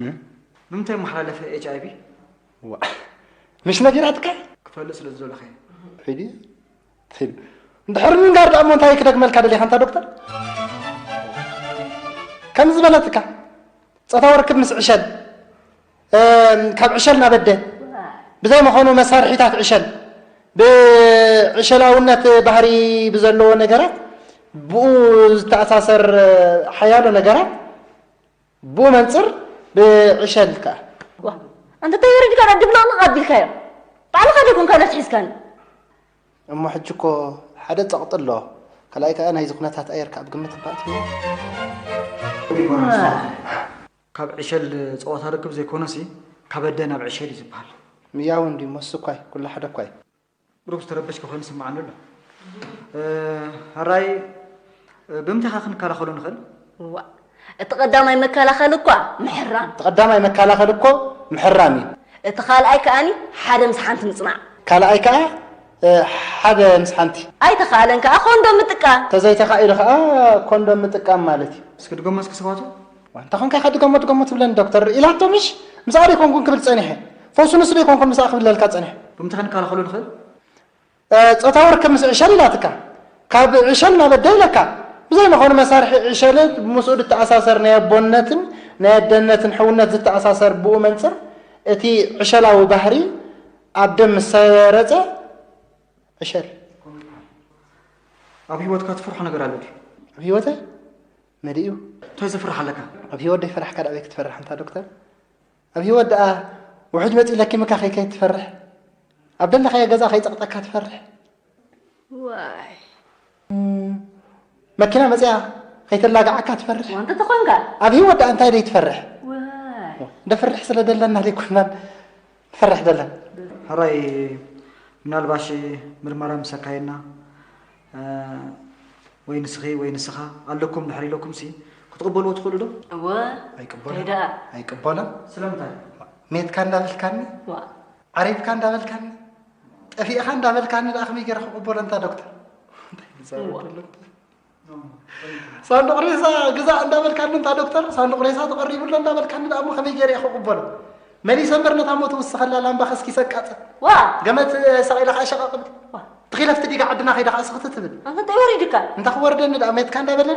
ብምንታይ መሓላለፈ ኤች ኣይቪ ምሽ ነጊራትካ ክፈልጥ ስለ ዝደለኸ ሒዲ ሒዲ እንድሕር ምንጋር ደኣ እሞ እንታይ ክደግመልካ ደሊኻ እንታ ዶክተር ከም ዝበለትካ ፆታዊ ርክብ ምስ ዕሸል ካብ ዕሸል ናብ ኣደ ብዘይ መኾኑ መሳርሒታት ዕሸል ብዕሸላውነት ባህሪ ብዘለዎ ነገራት ብኡ ዝተኣሳሰር ሓያሎ ነገራት ብኡ መንጽር ብዕሸል ከኣ ዋእ ኣንታ እንታይ ወሪድካ ዳኣ ድብልቕልቕ ኣቢልካዮ ባዕልኻ ዶ ኮንካ ነብሲ ሒዝካኒ እሞ ሕጂ እኮ ሓደ ጸቕጢ ኣሎ ካልኣይ ከኣ ናይዚ ኩነታት ኣየር ከኣ ኣብ ግምት እኳ ኣእትዮ ካብ ዕሸል ጸወታ ርክብ ዘይኮነሲ ካብ ኣደ ናብ ዕሸል እዩ ዝብሃል። ምያው እንድዩ ሞስኳይ ኩሉ ሓደ እኳ እዩ። ቁሩብ ዝተረበሽካ ኮይኑ ይስምዓኒ ኣሎ። ሕራይ ብምንታይ ኢኻ ክንከላኸሎ ንኽእል? እዋእ እቲ ቀዳማይ መከላኸሊ እኳ ምሕራም። እቲ ቀዳማይ መከላኸሊ እኮ ምሕራም እዩ። እቲ ካልኣይ ከኣ ሓደ ምስ ሓንቲ ምጽናዕ። ካልኣይ ከኣ ሓደ ምስ ሓንቲ። ኣይተኻእለን ከኣ ኮንዶም ምጥቃም። ተዘይተኻኢሉ ከኣ ኮንዶም ምጥቃም ማለት እዩ። እስኪ ድገሞ እስኪ ስብሃቱ። ዋንታ ኮንካ ኢኻ ድገሞ ድገሞ ትብለኒ ዶክተር ኢላቶ ምሽ ምስኣ ደይኮንኩን ክብል ጸኒሐ ፈውሱ ንሱ ደይኮንኩን ምስኣ ክብለልካ ጸኒሐ። ብምንታይ ክንከላኸሎ ንኽእል? ጾታዊ ርክብ ምስ ዕሸል ኢላትካ ካብ ዕሸል ናብ ኣደ ኢለካ ብዘይ መኸኑ መሳርሒ ዕሸል ምስኡ ድተኣሳሰር ናይ ኣቦነትን ናይ ኣደነትን ሕውነት ዝተኣሳሰር ብኡ መንጽር እቲ ዕሸላዊ ባህሪ ኣብ ደም ምስ ሰረጸ ዕሸል ኣብ ህይወትካ ትፈርሖ ነገር ኣሎ ድዩ? ኣብ ህይወተይ መሊኡ ታይ ዘፍርሕ ኣለካ ኣብ ሂወት ደይፈራሕካ ዳኣበይ ክትፈርሕ ኣንታ ዶክተር ኣብ ሂወት ዳኣ ውሑጅ መጺኡ ለኪምካ ከይከይድ ትፈርሕ ኣብ ደለካዮ ገዛ ከይጸቅጠካ ትፈርሕ ዋይ መኪና መጽያ ከይተላግዓካ ትፈርሕ ወንጢ ተኾንካ ኣብ ሂወት ዳኣ እንታይ ደይትፈርሕ ደፍርሕ ስለ ደለና ደይኮናን ንፈርሕ ዘለና። ሕራይ ምናልባሽ ምርመራ ምስ ኣካየድና ወይ ንስኺ ወይ ንስኻ ኣለኩም ድሕሪ ኢለኩም ሲ ክትቕበልዎ ትኽእሉ ዶ? እወ ኣይቅበሎ ደኣ ኣይቅበሎ ስለምንታይ ሜትካ እንዳበልካኒ ዓሪብካ እንዳበልካኒ ጠፊእኻ እንዳበልካኒ ደኣ ከመይ ገይረ ክቕበሎ እንታ ዶክተር እንታይ ይዛረብ ኣሎ ሳንዱቕ ሬሳ ግዛእ እንዳበልካኒ እንታ ዶክተር ሳንዱቕ ሬሳ ተቐሪቡ ኣሎ እንዳበልካኒ ደኣ እሞ ከመይ ገይረ ክቕበሎ መሊሰ እምበር ነታ ሞት ውስኸላ ላምባ ከስኪሰ ኣቃጽል ዋ ገመት ሰቒለ ከዓ ሸቐቕብል ትኺለፍቲ ዲጋ ዓድና ከይዳ ከዓ ስኽቲ ትብል እንታይ ወሪድካ እንታይ ክወርደኒ ደኣ ሜትካ እንዳበለኒ